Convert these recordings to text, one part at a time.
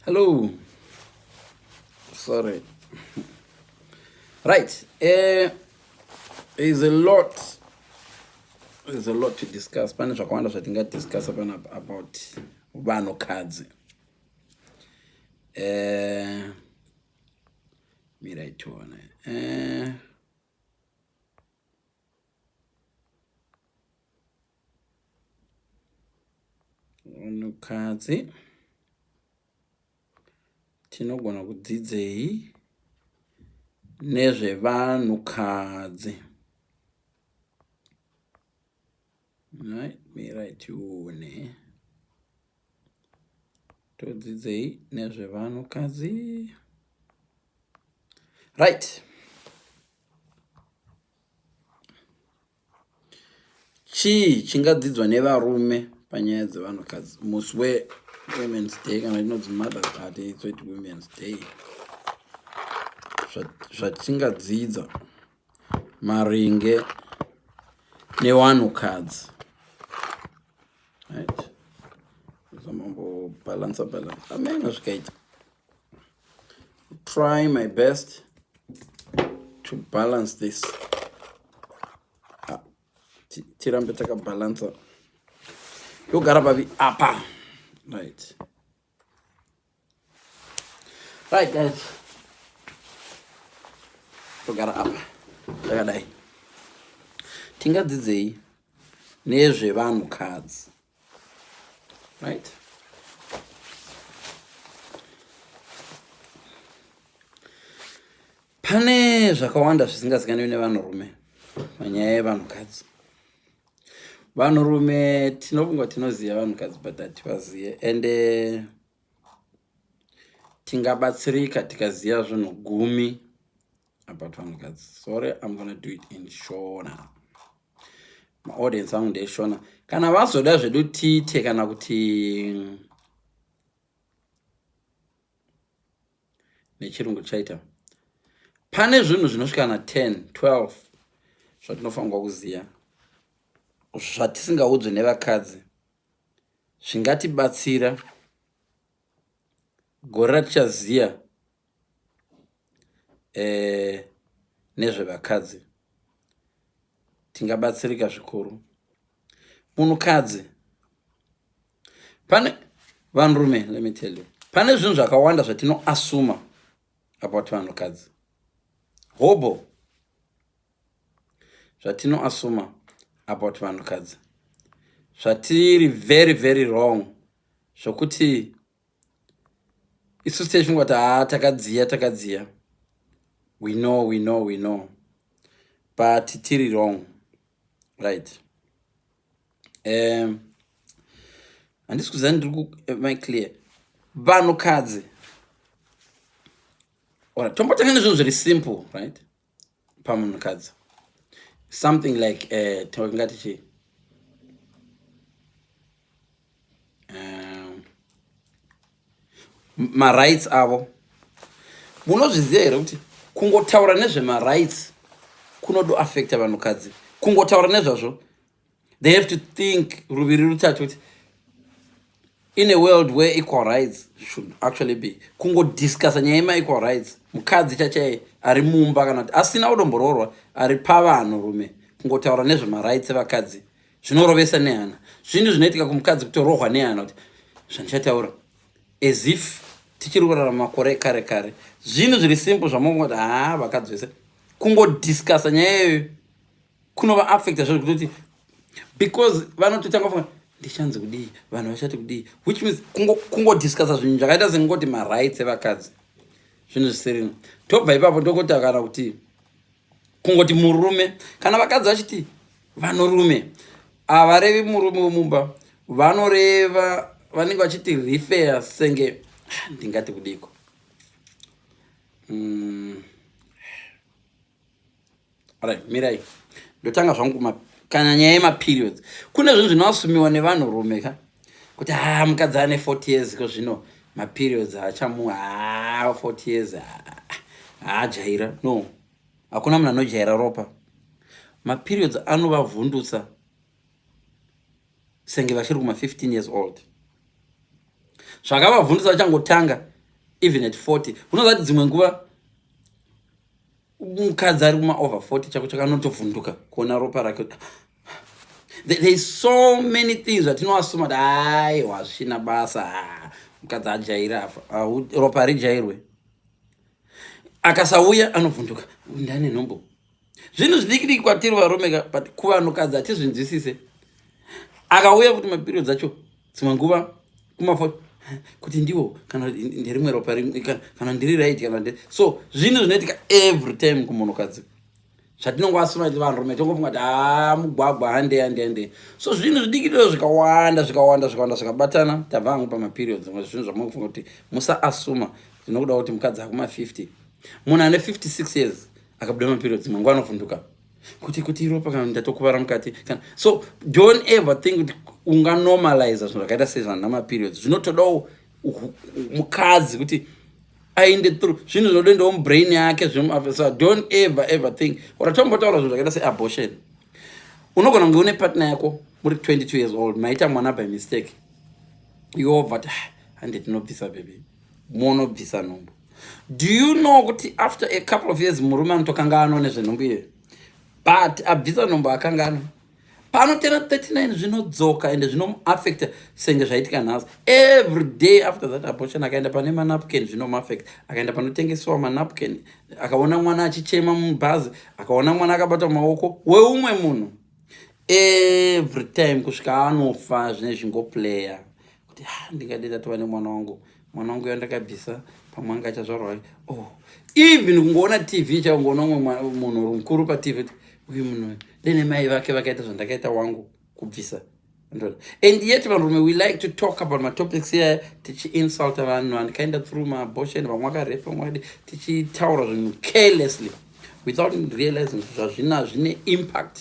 Hello. Sorry. Right. Uh, there's a lot. There's a lot to discuss. Pane zvakawanda zvatingadiscussa pano about vanhukadzi. Uh, Mira itione. Eh. Unukadzi. Tinogona kudzidzei nezvevanhukadzi. Nhai mirai tione. Todzidzei nezvevanhukadzi. Right. Chii chingadzidzwa nevarume panyaya dzevanhukadzi musi we women's day kana inonzi mothers a day toiti women's day zvatingadzidza so maringe newanhukadzi right zamambobalansa balansa amene zvikaita try my best to balance this ah, tirambe takabalansa yogara pavi apa right Right guys. Togara apa. Takadai. Tingadzidzei nezvevanhu kadzi. Right? Pane zvakawanda zvisingazikanwi nevanhurume panyaya yevanhukadzi. vanhurume tinofunga tinoziva vanhukadzi but hativazive ende eh, tingabatsirika tikaziva zvinhu gumi about vanhukadzi sorry im gonna do it in shona maaudience angu ndeyeshona kana vazoda zvedu tiite kana kuti nechirungu tichaita pane zvinhu zvinosvikana 10 12 zvatinofanirwa kuziva zvatisingaudzwe nevakadzi zvingatibatsira gore ratichaziva eh, nezvevakadzi tingabatsirika zvikuru munhukadzi pane vanrume let me tell you pane zvinhu zvakawanda zvatinoasuma about vanhukadzi hobo zvatinoasuma about vanhukadzi zvatiri very very wrong zvokuti isu station kuti haa takadziya takadziya we know we know we know but tiri wrong right um handisi kuziva ndiri ku eh, my clear vanhukadzi ora tombotanga nezvinhu zviri simple right pamunhukadzi something like uh, eh, tingati chii um, marights avo munozviziva here kuti kungotaura nezvemarights kunodoaffecta vanhukadzi kungotaura nezvazvo they have to think ruviri rutatu kuti in a world where equal rights should actually be kungodiscussa nyaya yemaequal rights mukadzi chachai ari mumba kana kuti asina kudomboroorwa ari pavanhu rume kungotaura nezvemarights evakadzi zvinorovesa nehana zvinhu zvinoitika kumukadzi kutorohwa nehana kuti zvandichataura as if tichiri kurarama makore ekare kare zvinhu zviri simple zvamongoti haa vakadzi vese kungodiscusa nyaya iyoyo kunova affecta zvo zvekutoti because vanototanga funga ndichanzi kudii vanhu vachati kudii which means kungodiscusa kungo zvinhu zvakaita sengoti marights evakadzi zvinhu zvisirino tobva ipapo ndokutakana kuti kungoti murume kana vakadzi vachiti vanorume havarevi murume wemumba vanoreva vanenge vachiti refer senge ndingati kudiko mm. right mirai ndotanga zvangu kana nyaya yemaperiods kune zvinhu zvinoasumiwa nevanhurume ka kuti haa ah, mukadzi ane 40 years ko zvino maperiods achamu haa ah, 40 years haajaira ah, no hakuna munhu anojaira ropa maperiods anovavhundutsa senge vachiri kuma 15 years old zvakavavhundutsa vachangotanga even at 40 unozati dzimwe nguva mukadzi ari kuma over 40 chako chakanotovhunduka kuona ropa rake there is so many things zvatinoasuma kuti ai wazvina basa mukadzi ajairi afa ropa harijairwe akasauya anovhunduka ndane nhombo zvinhu zvidiki diki kwatiri varomeka but kuvanhukadzi hatizvinzwisise akauya kuti mapirio dzacho dzimwe nguva kumafo kuti ndiwo kana nderimwe ropa kana ndiri right kana nde so zvinhu zvinoitika every time kumunhukadzi zvatinongoasuna ti vanhurume tongofunga kuti haa ah, mugwagwa hande hande hande so zvinhu zvidikiriro zvikawanda zvikawanda zvikawanda zvikabatana tabva hangu pamaperiod zimwe zvinhu zvamungofunga kuti musaasuma zvinokuda kuti mukadzi akuma 50 munhu ane 56 years akabuda maperiod dzimwe nguva anofunduka kuti kuti ropa kana ndatokuvara mukati kana so don't ever think kuti unganormaliza zvinhu zvakaita sezvana maperiods zvinotodawo mukadzi kuti aende through zvinhu zvinodoendawo mubrain yake zvimuafesa don't ever ever think or atombotaura zvinhu zvakaita seabortion unogona kunge une partner yako muri 22 years old maita mwana by mistake yobva ti ah, hande tinobvisa bebi monobvisa nhumbu do you know kuti after a couple of years murume anotokanga ano nezvenhumbu iyoyo but abvisa nhumbu akanga ano panotera 39 zvinodzoka ende zvinomuaffecta senge zvaitika nhasi every day after that abortion akaenda pane manapkin zvinomuaffecta akaenda panotengesewa manapkin akaona mwana achichema mubhazi akaona mwana akabata maoko weumwe munhu every time kusvika anofa zvine zvingoplayer kuti ha ndingade tatova nemwana wangu mwana wangu yandakabvisa pamwe anga achazvarwa oh even kungoona tv chaungoona umwe munhu uri mukuru patv uyu munhu ndenemai vake vakaita zvandakaita wangu kubvisa and yet vanhurume we like to talk about matopics iyaya tichiinsulta vanhu andikaenda through maabortion vamwe vakarepa mwadi tichitaura zvinhu carelessly without realizing zvazvina zvine impact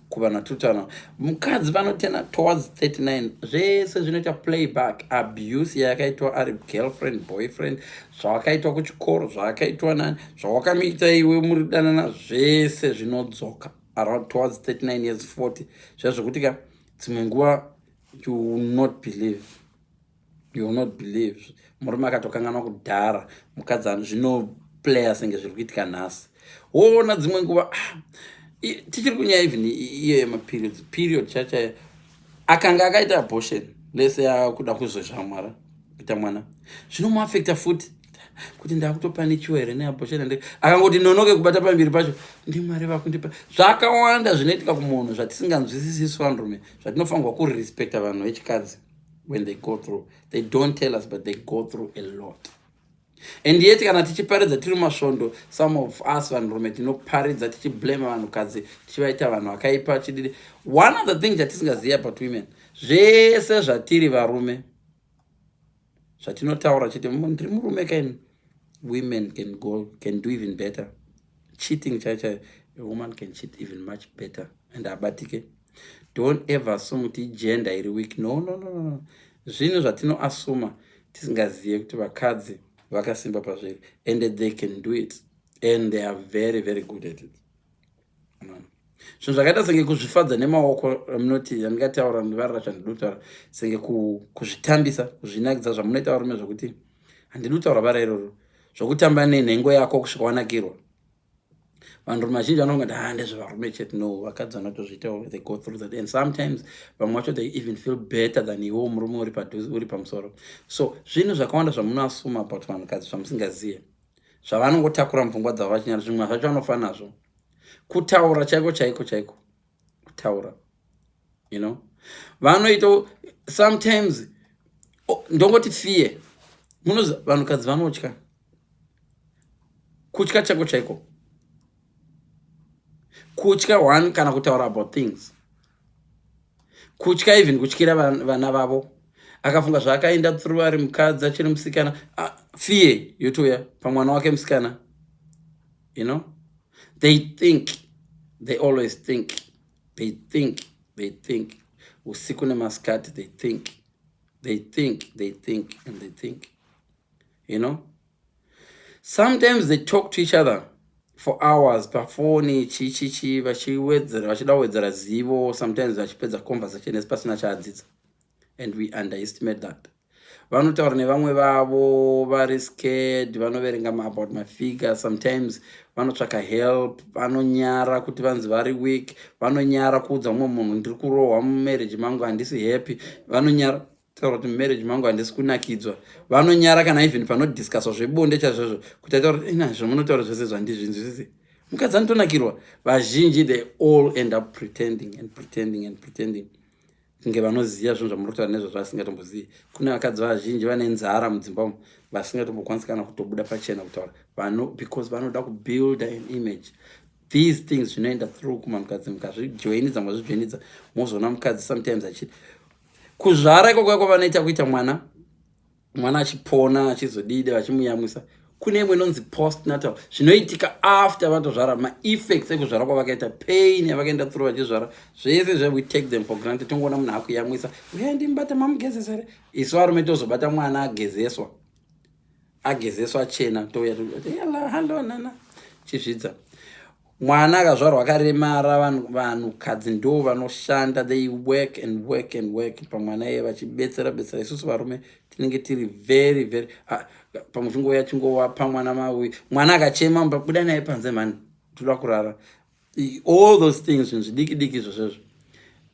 kuvanhu vatutana mukadzi vanotena towards 39 zvese zvinoita playback abuse yayakaitwa ari girlfriend boyfriend zvawakaitwa kuchikoro zvawakaitwa nani zvawakamiita iwe muri danana zvese zvinodzoka around towards 39 years 40 zviya zvekuti ka dzimwe nguva you will not believe you will not believe murume akatokanganwa kudhara mukadzi ano zvinoplaya senge zviri kuitika nhasi woona dzimwe nguva ah, tichiri kunyaya even iyo yemaperiods period chachayo akanga akaita abortion lese akuda kuzozvamwara kuita mwana zvinomuafecta futi kuti ndakutopanikiwa here neabortion ande akangoti nonoke kubata pambiri pacho ndimwari vakundipa zvakawanda zvinoitika kumunhu zvatisinganzwisisisi vanrume zvatinofanirwa kurespecta vanhu vechikadzi when they go through they don't tell us but they go through a lot and yet kana tichiparidza tiri masvondo some of us vanhurume tinoparidza tichiblame vanhukadzi tichivaita vanhu vakaipa chididi one of the thing chatisingazivi about women zvese zvatiri varume zvatinotaura chete ndiri murume kaini women can go can do even better cheating chai chai a woman can cheat even much better and abatike don't ever assume kuti igender iri week no no no no zvinhu zvatinoasuma tisingazive kuti vakadzi vakasimba pazviri and they can do it and they are very very good at it zvinhu zvakaita senge kuzvifadza nemaoko ramunoti eh, yandingataura ndivarira zvandinotara senge kuzvitambisa kuzvinakidza zvamunoita varume zvokuti handinotaura bara iroro zvokutamba nenhengo yako kusvika wanakirwa vanhurume vazhinji vanonga ti ha ndezvevarume chete no vakadzi vanotozviitawo they go through that and sometimes vamwe vacho they even feel better than iwo murume uri padhuzi uri pamusoro so zvinhu zvakawanda zvamunoasuma about vanhukadzi zvamusingazive zvavanongotakura mupfungwa dzavo vachinyara zvimwe zvacho vanofa nazvo kutaura chaiko chaiko chaiko kutaura you know vanoita sometimes oh, ndongoti fear munoziva vanhukadzi vanotya kutya chako chaiko kutya one kana kutaura about things kutya even kutyira vana vavo akafunga zvaakaenda through ari mukadzi achiri musikana ah, fear yotouya pamwana wake musikana you know they think they always think they think they think usiku nemasikati they think they think they think and they think you know sometimes they talk to each other for hours pafoni chichichi vachiwedzera vachida kuwedzera zivo sometimes vachipedza conversation esi pasina chaadzidza and we underestimate that vanotaura nevamwe vavo vari scared vanoverenga about mafigure sometimes vanotsvaka help vanonyara kuti vanzi vari weak vanonyara kuudza mumwe munhu ndiri kurohwa mumarriage mangu handisi happy vanonyara taura kuti mumarriage mangu handisi kunakidzwa vanonyara kana even panodiscuswa zvebonde chazvazvo kuti ataura kuti ina zvamunotaura zvese zvandizvinzwisise mukadzi anotonakirwa vazhinji they all end up pretending and pretending and pretending kunge vanoziva zvinhu zvamuri kutaura nezvazvo vasingatombozivi kune vakadzi vazhinji vane nzara mudzimba umu vasingatombokwanisi kana kutobuda pachena kutaura vano because vanoda kubuilda an image these things zvinoenda through kuma mukadzi mukazvijoinidza mukazvijoinidza mozoona mukadzi sometimes achiti kuzvara ikoko yako vanoita kuita mwana mwana achipona achizodide vachimuyamwisa kune imwe inonzi post natal zvinoitika after vatozvara maeffects ekuzvara kwavakaita pain yavakaenda tsuro vachizvara zvese zve we take them for granted tongoona munhu akuyamwisa uya ndimbata mamugezesa here isu varume tozobata mwana agezeswa agezeswa achena touya toyala hallo nana chizvidza mwana akazvarwa akaremara vanhu kadzi ndo vanoshanda they work and work and work pamwana iye vachibetsera betsera isusu varume tinenge tiri very very ah, pamwe chingouya chingowapa mwana maui mwana akachema mba buda naye panze mhani toda kurara all those things zvinhu zvidiki diki izvo zvezvo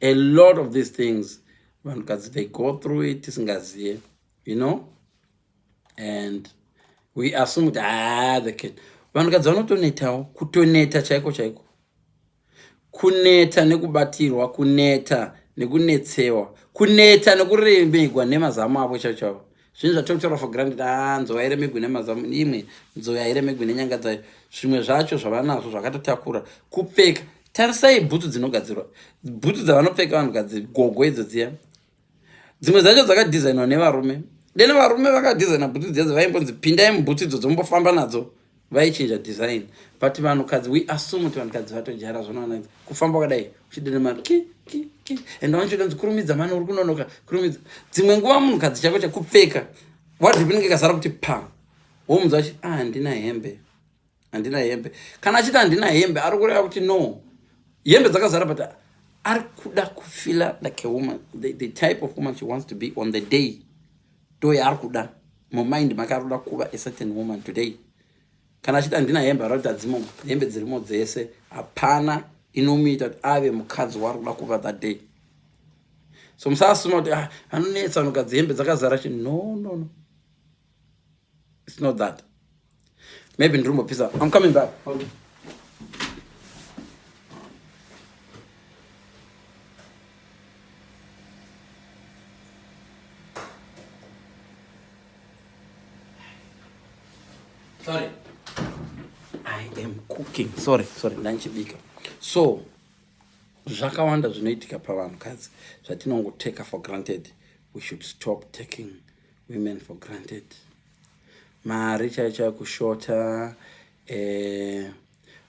a lot of these things vanhukadzi they go through it tisingazive you know and we assume kuti haa ah, the cat vanhukadzi vanotonetawo kutoneta chaiko chaiko kuneta nekubatirwa kuneta nekunetsewa kuneta nekuremegwa nemazamu avo chaicho chavo zvinhu zvatokutaura for granted haa ah, nzou yairemegwi nemazamu imwe nzou yairemegwi nenyanga dzayo zvimwe zvacho zvavanazvo zvakatotakura kupfeka tarisai bhutsu dzinogadzirwa bhutsu dzavanopfeka vanhukadzi gogo idzo dziya dzimwe dzacho dzakadhizainwa nevarume then varume vakadhizaina bhutsu dziya dzavaimbonzi pindai mubhutsu idzo dzombofamba nadzo vaichinja design but vanhukadzi we assume kuti vanhukadzi vatojara zvanoona kufamba kudai uchidene mari ki ki ki and vanhu chodanzi kurumidza mani uri kunonoka kurumidza dzimwe nguva munhukadzi chako chakupfeka wadripi inenge ikasara kuti pa womunzwa achi ah ndina hembe handina hembe kana achiti handina hembe ari kureva kuti no hembe dzakazara but ari kuda kufila like a woman the, the type of woman she wants to be on the day to yaari kuda mumind make ari kuda kuva a certain woman today kana achiti handina hembe ari kuti adzimo hembe dzirimo dzese hapana inomuita kuti ave mukadzi waari kuda kuva that day so musasuma kuti ah, anonetsa anogadzihembe dzakazara chi no no no its not that Maybe ndiri kumbopisa. I'm coming back. Okay. Sorry. I am cooking. Sorry, sorry. Ndanchibika. So, zvakawanda zvinoitika pavanhukadzi zvatinongoteka for granted we should stop taking women for granted mari chaiyo chaiyo kushota eh,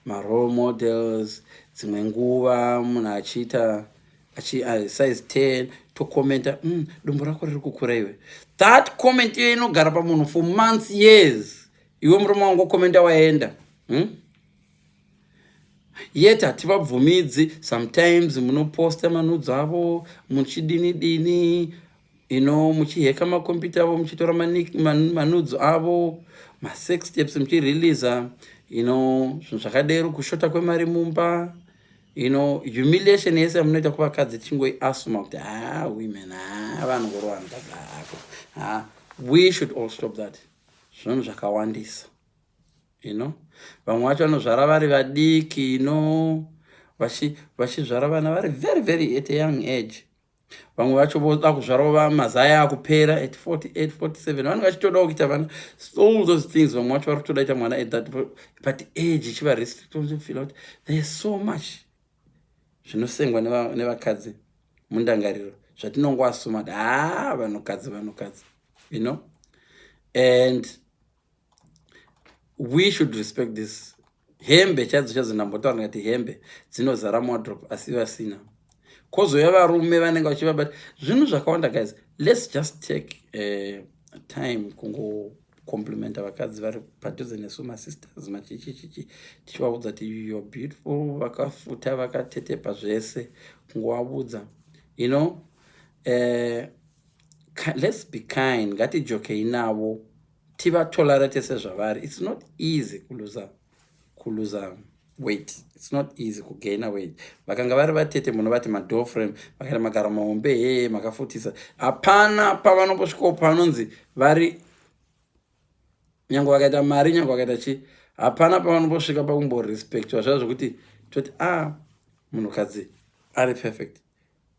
marole models dzimwe nguva munhu achiita achi uh, size 10 tokomenta mm, dumbu rako riri kukura iwe that comment iyo inogara pamunhu for months years iwe murume wangu okomenta waenda hmm? yet hativabvumidzi sometimes munoposta manudzo avo muchidini dini you know muchiheka makompyuta avo muchitora manudzo avo masex steps muchireleasa you know zvinhu zvakadero kushota kwemari mumba you know humiliation yese yamunoita kuvakadzi tichingoiasuma kuti ha ah, women ha ah, vanhu vorowa mukadzi hako ah, ha we should all stop that zvinhu zvakawandisa you know vamwe vacho vanozvara vari vadiki you know vachizvara vana vari very very at a young age vamwe vacho voda kuzvarova mazaya akupera at 48 47 vanenge vachitodawo kuita vana all those things vamwe vacho vari kutoda ita mwana at that but age ichiva restrictfeel kuti there so much zvinosengwa nevakadzi mundangariro zvatinongoasuma kuti haa vanhukadzi vanhukadzi you know and we should respect this hembe chaidzo chaidzo ndambotaura ngati hembe dzinozara muwadrop asi vasina kozouya varume vanenge vachivabata zvinhu zvakawanda guys let's just take uh, time kungocomplimenta vakadzi vari padhuze nesu masisters machichichichi tichivaudza ti you're beautiful vakafuta vakatetepa zvese kungovaudza you know uh, let's be kind ngatijokei navo tivatolerate sezvavari it's not easy kuluza kuluza weight it's not easy kugaina weight vakanga vari vatete munovati madoor frame vakaita magaro mahombe hee makafutisa hapana pavanombosvikawo panonzi vari nyange vakaita mari nyange vakaita chii hapana pavanombosvika pakumborespectwa zvaa zvokuti toti a ah, munhukadzi ari perfect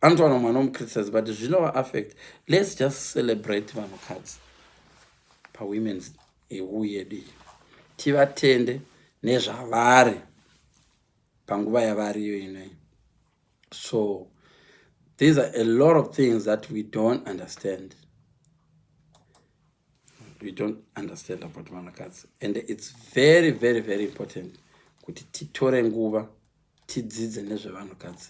anotowana mwana womucriticism but zvinova affect let's just celebrate vanhukadzi pawomens eu yedu iyi tivatende nezvavari panguva yavariyo inoi so these are a lot of things that we don't understand we don't understand about vanhukadzi and it's very very very important kuti titore nguva tidzidze nezvevanhukadzi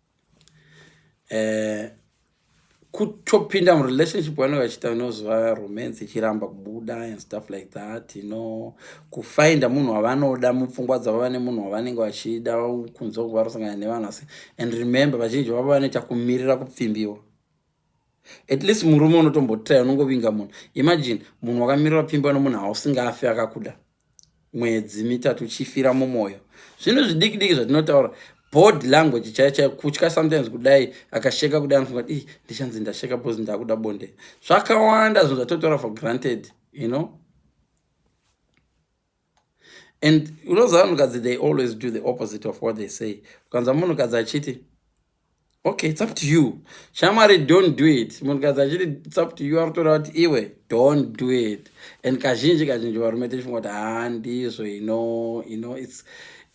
eh, kutopinda murelationship vanenge vachiita inoziva romance ichiramba kubuda and stuff like that you know kufinda munhu wavanoda mupfungwa dzavo vane munhu wavanenge vachida kunzwa kuva rosangana nevanhu asi and remember vazhinji vavo vanoita kumirira kupfimbiwa at least murume unotombotaya unongovinga munhu imagine munhu wakamirira kupfimbiwa nomunhu hausingafi akakuda mwedzi mitatu uchifira mumwoyo zvinhu zvidiki diki zvatinotaura bod language chaiyo chaiyo kutya sometimes kudai akasheka kudai anofunga kuti ndichanzi ndasheka bcause ndakuda bonde zvakawanda zvinhu zvatotora for granted you know and unoziva munhukadzi they always do the opposite of what they say ukanza munhukadzi achiti okay it's up to you shamwari don't do it munhukadzi achiti it's up to you aritoda kuti iwe don't do it and kazhinji kazhinji varume tichifunga kuti haa ndizvo ino ino its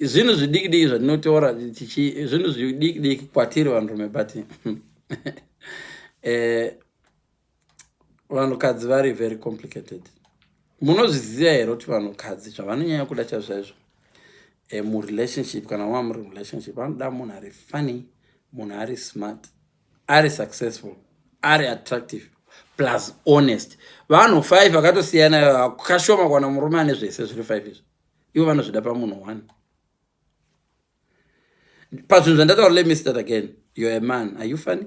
zvinhu zvidikidiki zvatinotaura tichi zvinhu zvidikidiki kwatiri vanhurume but eh, vanhukadzi vari very complicated munozviziva here kuti vanhukadzi zvavanonyanya kuda chazvaizvo e, murelationship kana wava muri relationship vanoda munhu ari funny munhu ari smart ari successful ari attractive plus honest vanhu five vakatosiyana kashoma kwana murume ane zvese zviri five izvi ivo vanozvida pamunhu one pazvinhu zvandataura let me start again you're a man are you funny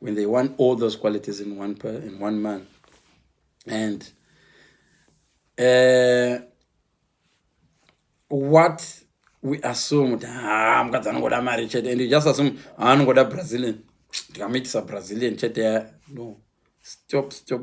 when they want all those qualities in one, per, in one man. And uh, what we assume kuti ha ah, mukadzi anongoda mari chete and you just assume ah, anongoda brazilian ndikamuitisa brazilian chete no stop stop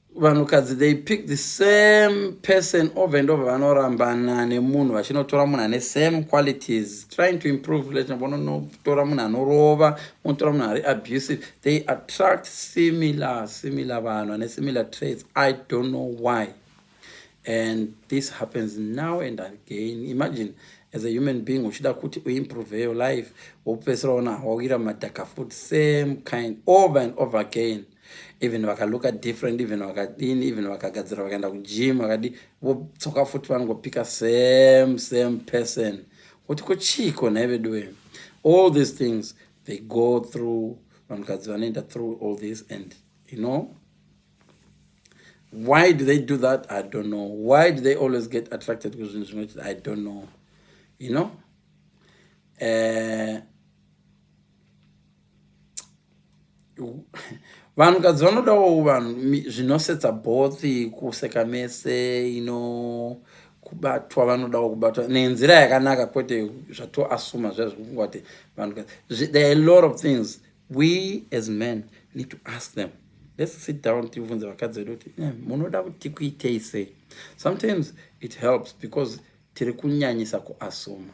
vanhukadzi they pick the same person over and over vanorambana nemunhu vachinotora munhu ane same qualities trying to improve let vononotora munhu anorova vonotora munhu ari abusive they attract similar similar vanhu ane similar traits i don't know why and this happens now and again imagine as a human being uchida kuti uimprove your life wopedzisira ona hawawira madhaka food same kind over and over again even vakalooka different even vakadini even vakagadzira vakaenda kugym vakadi vodzoka futi vanongopika same same person kuti kuchiiko nhai veduwe all these things they go through vanhukadzi vanoenda through all this and you know why do they do that i don't know why do they always get attracted to zvinhu zvinoita i don't know you know uh, vanhukadzi vanodawo vanhu zvinosetsa both kuseka mese ino kubatwa vanodawo kubatwa nenzira yakanaka kwete zvatoasuma zviya zvekufungwa kuti vanhukadzi there are a lot of things we as men need to ask them let's sit down tivunze vakadzi vedu kuti eh, munoda kuti tikuitei sei sometimes it helps because tiri kunyanyisa kuasuma